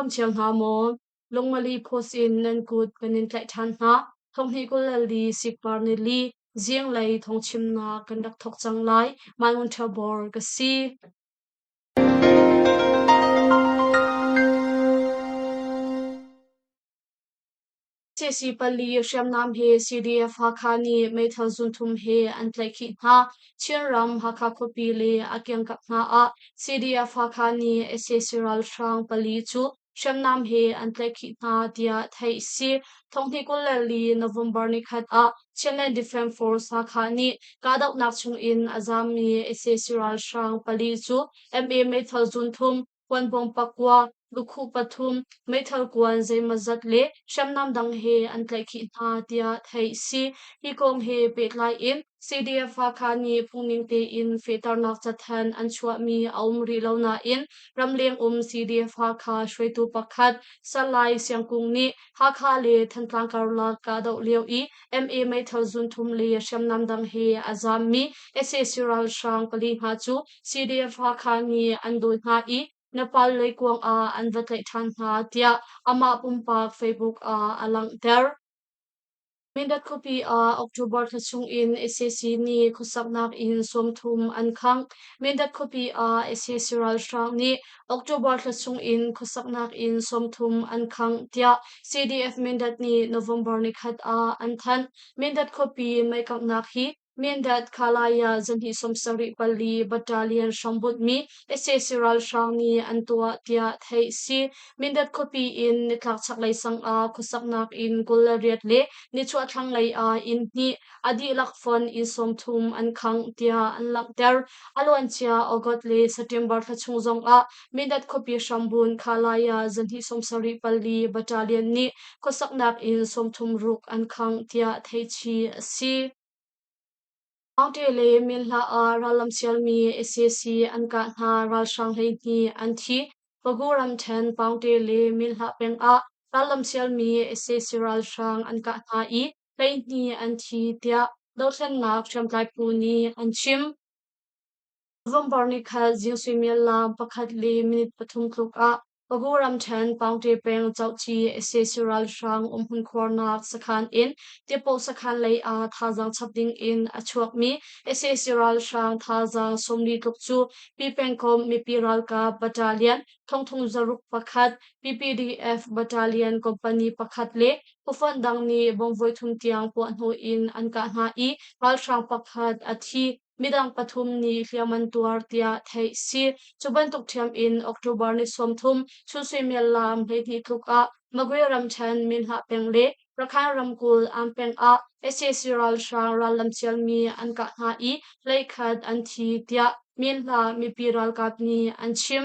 Dam cio hna maw? Lungmali post in nan kut kan in tlaih ṭhan hna. Thonghni kul le li sikpar ni li zieng lei thongchimnak kan rak thok cang lai. Mai Ngun Ṭha Bor ka si. Cesi pali hriamnam he CDF Hakha nih meithal zunthum he an tlaihkhih hna. Chinram Hakha khuapi le a kiangkap hna ah CDF Hakha nih sac ralhrang pali cu hriamnam he an tlaihkhih hna tiah theih a si. Thonghni kul le li November nikhat ah Chinland Defence Force Hakha nih kahdohnak chungin a zammi sac ralhrang pali cu MA meithal zunthum, puanbawng pakua, lukhu pathum, meithal kuan zeimawzat le hriamnam dang he an tlaihkhih hna tiah theih a si. Hi kong he pehtlai in CDF-Hakha nih phungning tein fehternak cathanh an chuahmi a um rih lo nain ramleng um CDF-Hakha hruaitu pakhat Salai Siangkung nih Hakha le Thantlang karlak kahdoh lio i MA meithal zunthum le hriamnam dang he a zammi sac ralhrang pali hna cu CDF Hakha nih an dawi hna i na palle kuang ah an va tlaih ṭhan hna tiah amah pumpak Facebook ah a langhter. Mindat khuapi ah October thla chung in SAC nih khuasaknak in sawmthum an khang. Mindat khuapi ah SAC ralhrang nih October thla chung in khuasaknak in sawmthum an khang tiah CDF Mindat nih November ni khat ah an thanh. Mindat khuapi meikanghnak hi Mindat Khalaya zahnih sawmsarih pali battalion hrambunhmi sac ralhrang nih an tuah tiah theih a si. Mindat khuapi in nitlak chaklei sang ah khuasaknak in kul le riat le nichuah thlanglei ah inn hnih a dihlak fon inn sawmthum an khangh tiah an langhter. A luancia August le September thla chung zong ah Mindat khuapi hrambun khalai ah zanhnih sawmsarih pali battalion nih khuasaknak in sawmthum ruk an khangh tiah theichih a si. Mangṭe le min hla ah rallam sialmi sac an kah hna ralhrang hleihnih an thi. Bagu ramṭhen Pangṭe le min hla peng ah rallam sialmi sac ralhrang an kah hna i hleihnih an thi tiah dohthlennak hriamtlai phu nih an chim. Vomvor nih khan Jew suimiallang pakhat le minute pathum tluk ah Pago ramṭhen pangṭe peng cohci sac ralhrang umhmun khuarnak sakhan in Tipaw sakhan lei ah thazaang chap ding in a chuakmi sac ralhrang thazaang sawmli tluk cu Pipengkom mipi ralkap battalion thongthong zaruk pakhat PPDF battalion company pakhat le ufan dang nih bongvoi thum tiang puah hnawh in an kah hna i ralhrang pakhat a thi midang pathum nih hliam an tuar tiah theih a si. Cu bantuk ṭhiam in October ni sawmthum sunsuimial laam hleihnih tluk ah Magway ramṭhen minhah peng le Rakhine ramkulh am peng ah sac ralhrang rallam sialmi an kah hna i hleikhat an thi tiah minhla mipi ralkap nih an chim.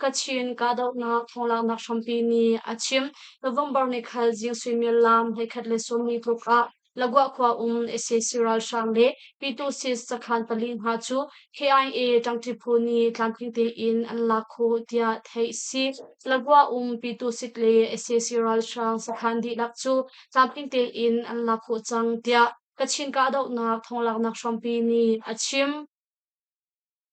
Kachin kahdohnak thawnglaaknak hrampi nih a chim. November ni khan Jingsui Myil lam hleikhat le sawmli tluk ah Lagwa khua um SAC ralhrang le P2Cs sakhan pali hna cu KIA Ṭangṭi phu nih tlamtling tein an lak khawh tiah theih a si. Lagwa um P2Sik le SAC ralhrang sakhan dihlak cu tlamtling tein an lak khawh cang tiah Kachin kahdohnak thawnglaaknak hrampi nih a chim.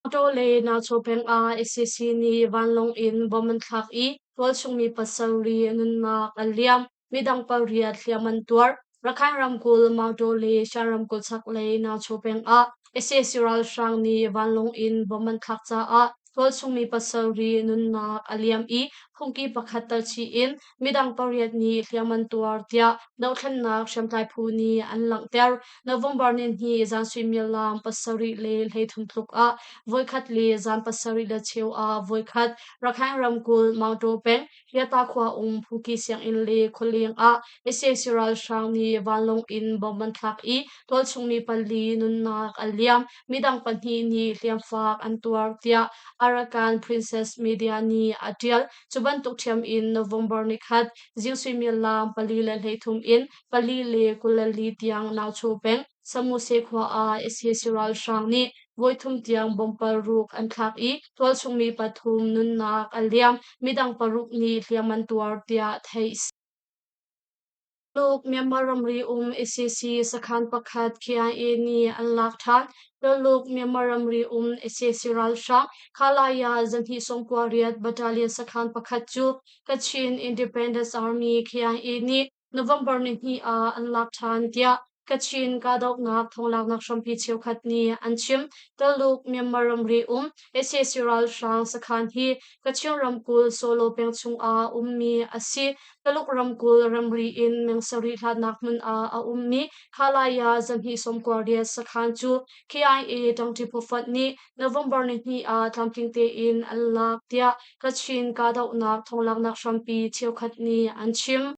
Auto le Nacho peng ah SCC nih vanlawng in bom an thlak i tualchungmi pa sarih nunnak an liam. Midang pariat hliam an tuar. Rakhine ramkulh Mauto le Shan ramkulh chaklei Nacho peng ah SCC ralhrang nih vanlawng in bom an thlak caah tualchungmi pa sarih nunnak a liam i phungki pakhat tar chih in midang pariat nih hliam an tuar tiah dohthlennak hriamtlai phu nih an langhter. November nihnih zan suimilam pasarih le hleithum tluk ah voikhat le zan pasarih le cheu ah voikhat Rakhine ramkulh Mauto peng Hyata khua um Phuki sianginn le khualeng ah ICC ralhrang nih vanlawng in bom an thlak i tualchungmi pali nunnak an liam. Midang pahnih nih hliamfak an tuar tiah Arakan Princess Media nih a ṭial. Cu bantuk ṭhiam in November ni khat ziu suimilam pali le hleithum in pali le kul le li tiang nauchaw peng Samuse khua ah sac ralhrang nih voithum tiang bomb paruk an thlak i tualchungmi pathum nunnak a liam, midang paruk nih hliam an tuar, tiah theih a si. Tuluk Myanmar ramri um ICC sakhan pakhat KIA nih an lak ṭhan. Tuluk Myanmar ramri um ICC ralhrang Khalaya zanhnih sawm kua riat battalion sakhan pakhat cu Kachin Independence Army KIA nih November ni hnih ah an lak ṭhan tiah Kachin kahdohnak thonglaaknak hrampi cheukhat nih an chim. Tuluk Myanmar ramri um sac ralhrang sakhan hi Kachin ramkulh Solo peng chungah ummi a si. Tuluk ramkulh ramri in meng sarih hlatnak hmun ah a ummi Halaya Zanhi Somkwardiet sakhan cu KIA tangti phuffat nih November nihni ah tlamtling tein an laak tiah Kachin kahdohnak thonglaaknak hrampi cheukhat nih an chim.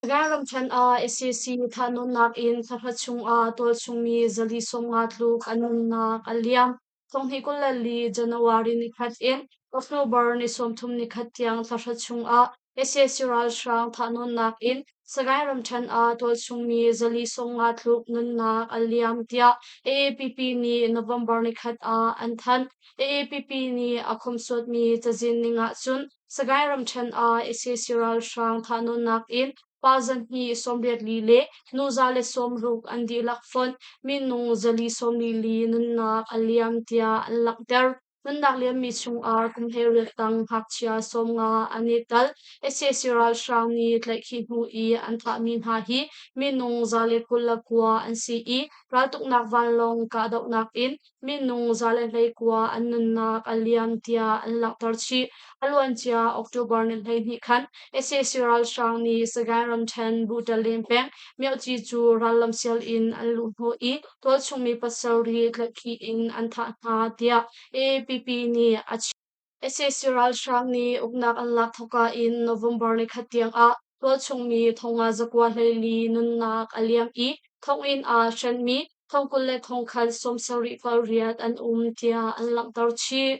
Sagaing ramthen ah sac thahnawnnak in thla chungah tualchungmi zali sawmnga tluk an nunnak a liam. Sawmhnih kul le li January nikhat in October ni sawmthum nikhat tiang thla chungah sac ralhrang thahnawnnak in Sagaing ramthen ah tualchungmi zali sawmnga tluk nunnak a liam tiah AAPP nih November nikhat ah an thanh. AAPP nih a khomsuatmi cazin ning ahcun Sagaing ramṭhen ah sac ralhrang thahnawnnak in pa zahnih sawmriat li le nu za le sawmruk an dihlak fonh minung zali sawmli li nunnak a liam tiah an langhter. Nunnak liammi chungah kumhnih riattang ngakchia sawmnga an i tel. sac ralhrang nih tlaihkhih hnu i an thahmi hna hi minung za le kul le kua an si i raltuknak vanlawng kahdohnak in Minung zale hleikua an nunnak a liam tiah an langhter chih. A luancia October ni hleihnih khan sac ralhrang nih Sagaing ramṭhen Butaleng peng Myoci cu rallam sial in an luh hnawh i tualchungmi pasarih tlaihkhih in an thah hna tiah APP nih a chim. sac ralhrang nih uknak an lak thawka in november ni khat tiangah tualchungmi thonga zakua hleili nunnak a liam i thonginn ah hrenmi thongkul le thongkhat sawm sarih kal riat an um tiah an langhter chih.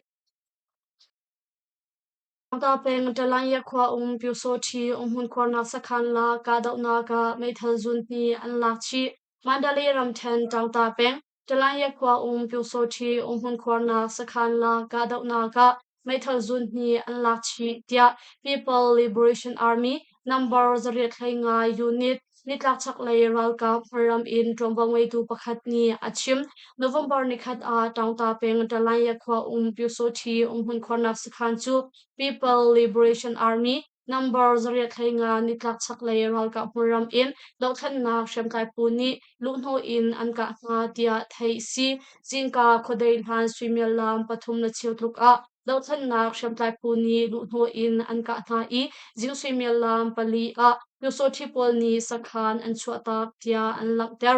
Tangta peng Talanya khua um Pyosawthi umhmun khuarnak sakhan la kahdohnak ah meithal zun hnih an lak chih. Mandalay ramthen Tangta peng Ṭalaiya khua um Pyosawṭhi umhmun khuarnak sakhanla kahdohnak ah meithal zun hnih an lak chih, tiah People Liberation Army number zarih hlei ngai unit nitlakchaklei ralkap ram in ṭuanvo ngeitu pakhat nih a chim. November nikhat ah Tangta peng Ṭalaiya khua um Pyosawṭhi umhmun khuarnak sakhan cu People Liberation Army Nambar zarih thla nga nitlak chaklei ralkap hmunram in dohthlennak hriamtlai phu nih luhhnawh in an kah hna tiah theih a si. Cinka khuadei hlan suimiallam pathum le cheu tluk ah dohthlennak hriamtlai phu nih luhhnawh in an kah hna i zing suimiallam pali ah Pyusawhthi pawl nih sakhan an chuahtak tiah an langhter.